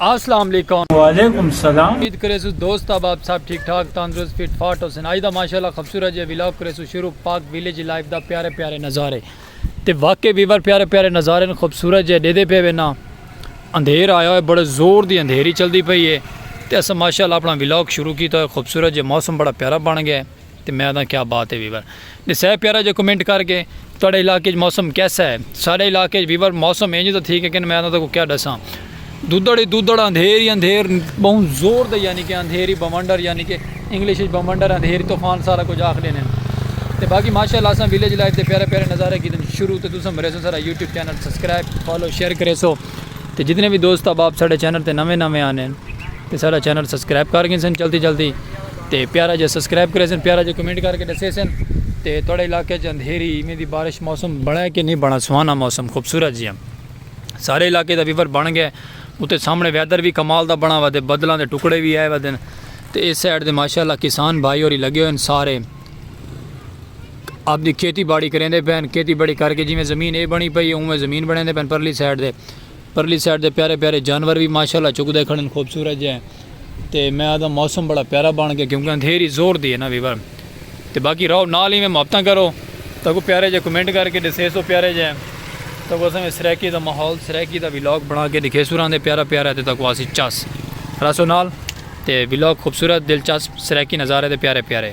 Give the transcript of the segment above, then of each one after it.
اسلام علیکم۔ وعلیکم السلام۔ امید کریسوں دوست احباب سب ٹھیک ٹھاک تندرست فٹ فاٹ ہوسن اج دا ماشاءاللہ خبصورت جیہا ولاگ کریسوں شروع پاک ویلیج لائف دا پیارے پیارے نظارے تے واقعی ویور پیارے پیارے نظارے نو خبصورت جیہا ڈیدھے پے وے ناں اندھیر آیا ہوئے بڑے زور دی اندھیری چلدی پئی ہے تے اساں ماشاءاللہ اپنا ولاگ شروع کیتا ہوئے خبصورت جیہا موسم بڑا پیارا بن گیا ہے۔ تے میں آدھاں کیا بات ہے ویور ڈسہ ہے پیارا جو کمنٹ کر کے تہاڈے علاقے وچ موسم کیسا ہے ساڈے علاقے وچ ویور موسم اینج دا تھی کہ کن میں آدھاں تکو کیا ڈساں دودڑ ہی دودڑ اندھیر ہی اندھیر بہوں زور دے یعنی کہ اندھیر ہی بمنڈر یعنی کہ انگلش وچ بمنڈر اندھیر طوفان سارا کچھ آکھ دینے تے باقی ماشاءاللہ اساں ویلیج لائف دے پیارے پیارے نظارے کیتے شروع تے تساں مرے سو سارا YouTube channel subscribe follow share کرے سو تے جتنے بھی دوست احباب ساڈے چینل تے نویں نویں آنے تے سارا چینل سبسکرائب کر گئے سن جلدی جلدی تے پیارا جا سبسکرائب کرے سن پیارا جا کمنٹ کر کے دسے سن تے تھوڑے علاقے چ اندھیری ایویں دی بارش موسم بنائے کہ نہیں بنا سہانا موسم خوبصورت جیاں سارے علاقے دا ویور بن گئے اتے سامنے ویدر بھی کمال دا بنا ودے بدلاں دے ٹکڑے بھی آئے ودن تے اس سائیڈ دے ماشاءاللہ کسان بھائی ہوری لگے ہوئے سارے اپنی کھیتی باڑی کریندے پین کھیتی باڑی کر کے جویں زمین اے بنی پئی اوویں زمین بنیندے پین پرلی سائیڈ دے پرلی سائیڈ دے پیارے پیارے جانور وی ماشاءاللہ چگدے کھڑن خوبصورت جے تے میں آدھاں موسم بڑا پیارا بن گیا کیونکہ اندھیری زور دی ہے نا ویور تے باقی رہو نال ہی میں محبتاں کرو تاکو پیارے جے کمنٹ کر کے ڈسے سو پیارے جے تاکو اساں میں سرائیکی دا ماحول سرائیکی دا ویلاگ بنا کے دکھے سو راندے پیارا پیارا تے تاکو آسی چس رسو نال تے ویلاگ خوبصورت دلچسپ سرائیکی نظارے تے پیارے پیارے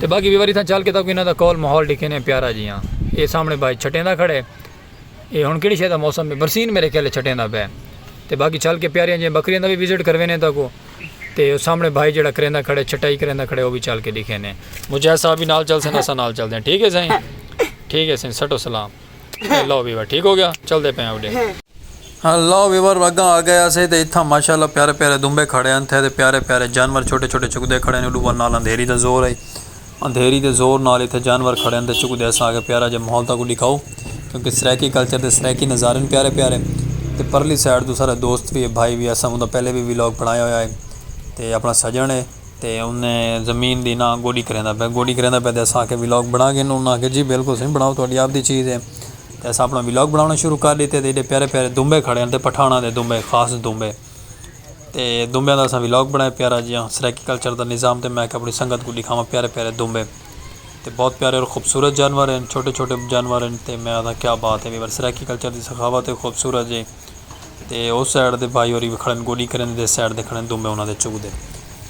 تے باقی وی واری تھاں چل کے تاکوں انہاں دا کول ماحول ڈکھینے پیارا جیاں اے سامنے بائی چھٹیں دا کھڑے اے ہن کیڑی شے دا موسم ہے برسین میرے خیال چھٹیں دا پے تے باقی چل کے پیاریاں جیاں بکریاں دا وی وزٹ کروینے تاکوں تے او سامنے بھائی جیڑا کریندا کھڑے چھٹائی کریندا کھڑے او وی چل کے ڈکھینے مجاہد صاحب وی نال چل سن اساں نال چلدے ہیں ٹھیک ہے سائیں ٹھیک ہے سائیں سٹو سلام لو ویور ٹھیک ہو گیا چل دے پہ اوڈے ہاں لو ویور وگاں آ گئے اسے تے اتھاں ماشاءاللہ پیارے پیارے دنبے کھڑے ہیں تھے تے پیارے پیارے جانور چھوٹے چھوٹے چک دے کھڑے ہیں اڈو ور نال اندھیری دا زور ہے اندھیری دے زور نال اتھے جانور کھڑے ہیں تے چک دے اساں آگے پیارا جے ماحول تاکو دکھاؤ کیونکہ سریکی کلچر دے سریکی نظارے ہیں پیارے پیارے تے پرلی سائیڈ تو سارے دوست بھی ہے بھائی بھی ہے اساں انہوں دا پہلے بھی ویلوگ بنایا ہویا ہے تے اپنا سجن ہے تے انھے زمین دی نہ گوڈی کریندا پئے گوڈی کریندا پئے تے اساں آکھیا ولاگ بنا گھن انھاں آکھیا جی بالکل سائیں بناؤ تہاڈی آپ دی چیز ہے تے اساں اپنا ولاگ بناونا شروع کر ڈتے تے ایڈے پیارے پیارے دنبے کھڑے ہن تے پٹھاناں دے دنبے خاص دنبے تے دنبیاں دا اساں ولاگ بنایا پیارا جیہاں سرائیکی کلچر دا نظام تے میں آکھیا اپنی سنگت کوں ڈکھاواں پیارے پیارے دنبے تے بہت پیارے اور خوبصورت جانور ہن چھوٹے چھوٹے جانور ہن تے میں آکھدا کیا بات ہے وی سرائیکی کلچر دی سخاوت ہے خوبصورت جیہی تے او سائیڈ دے بھائی ہوری وی کھڑن گوڈی کریں دے سائیڈ دے کھڑن دو میں انہاں دے چک دے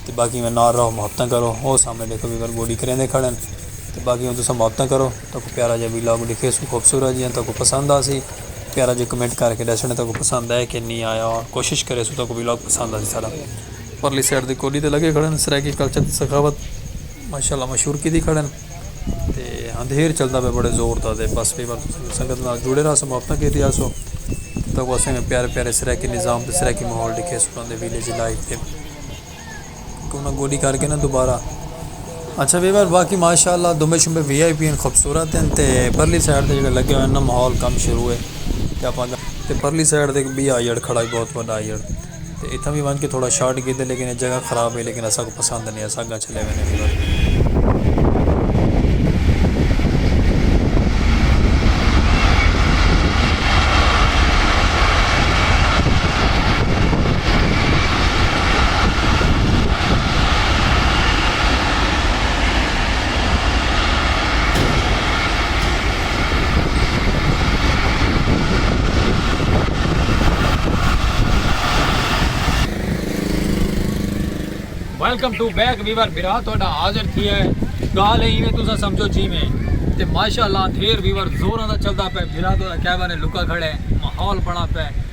تے باقی میں نار رہو محبتاں کرو او سامنے دیکھو وی گوڈی کریں دے کھڑن تے باقی تساں محبتاں کرو تاں کو پیارا جا ویلاگ ڈکھے سو خوبصورت جیاں تاں کو پسند آ سی پیارا جا کمنٹ کر کے ڈسنڈ تاں کو پسند آئے کہ نہیں آیا کوشش کرے سو تاں کو ویلاگ پسند آ سی سارا پرلی سائیڈ دے گوڈی تے لگے کھڑن سرائیکی کلچر تے سخاوت ماشاء اللہ مشہور کیتی کھڑن تے اندھیر چلدا پیا بڑے زور دا تے بس کئی وار سنگت نال جڑے رہسوں محبتاں کیتی آسوں تاں کو اسیں میں پیارے پیارے سرائیکی نظام تے سرائیکی ماحول ڈکھے سوں انہاں دے ویلیج لائف تے کہ انہاں گوڈی کر کے نا دوبارہ اچھا وی وار باقی ماشاءاللہ دمبے شمبے وی آئی پی ہیں خوبصورت ہیں تے پرلی سائیڈ تے جڑے لگے ہوئے ہیں نا ماحول کم شروع ہے تے پرلی سائیڈ تے ایک بی آئیڈ کھڑا ہے بہت وڈا آئیڈ تے اتھاں وی ونج کے تھوڑا شاٹ گھدے لیکن اے جگہ خراب ہئی لیکن اساکوں پسند نی اساں اگاں چلے وینے ہی بس۔ ویلکم ٹو بیک ویور برا تہاڈا حاضر تھی ہے گال ہے ایویں تسا سمجھو جی میں تے ماشاءاللہ اندھیر ویور زوراں دا چلدا پے برا تہاڈا کیبن لکا کھڑے ماحول بنا پے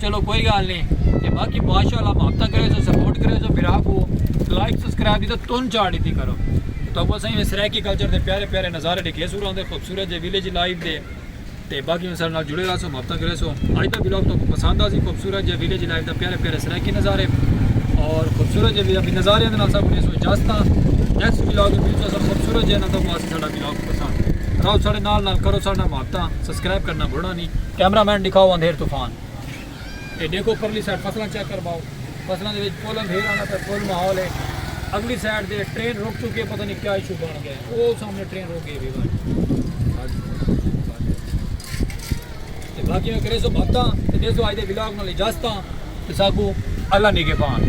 چلو کوئی گال نہیں تے باقی ماشاءاللہ محبتاں کرے سو سپورٹ کرے سو بھرا کو لائک سبسکرائب دی تے تن چاڑ دیتی کرو تو ابو سائیں سرائیکی کلچر دے پیارے پیارے نظارے ڈکھے سو راندے خوبصورت جے ویلیج لائف دے تے باقی انسان نال جڑے رہا سو محبتاں کرے سو اج دا ویلاگ تو پسند آ سی خوبصورت جے ویلیج لائف دا پیارے پیارے سرائیکی نظارے اور خوبصورت جے ویلیج نظارے دے نال سب کو سو اجازت نیکسٹ ویلاگ دے وچ سب خوبصورت جے نال تو اسی ساڈا ویلاگ پسند راو ساڈے نال نال کرو ساڈا محبتاں سبسکرائب کرنا بھولنا نہیں کیمرہ مین ڈکھاؤ اندھیر طوفان اے ڈیکھو پرلی سائیڈ فصلاں چیک کرواؤ فصلاں دے وچ پل اندھیر آندا پے پل ماحول اے اگلی سائیڈ دے ٹرین رک چکی ہے پتہ نہیں کیا ایشو بن گیا ہے او سامنے ٹرین رک گئی ہے تے باقی میں کرے سو بھتاں تے دے سو اج دے ولاگ نال اجازتاں تے ساکو اللہ نگہبان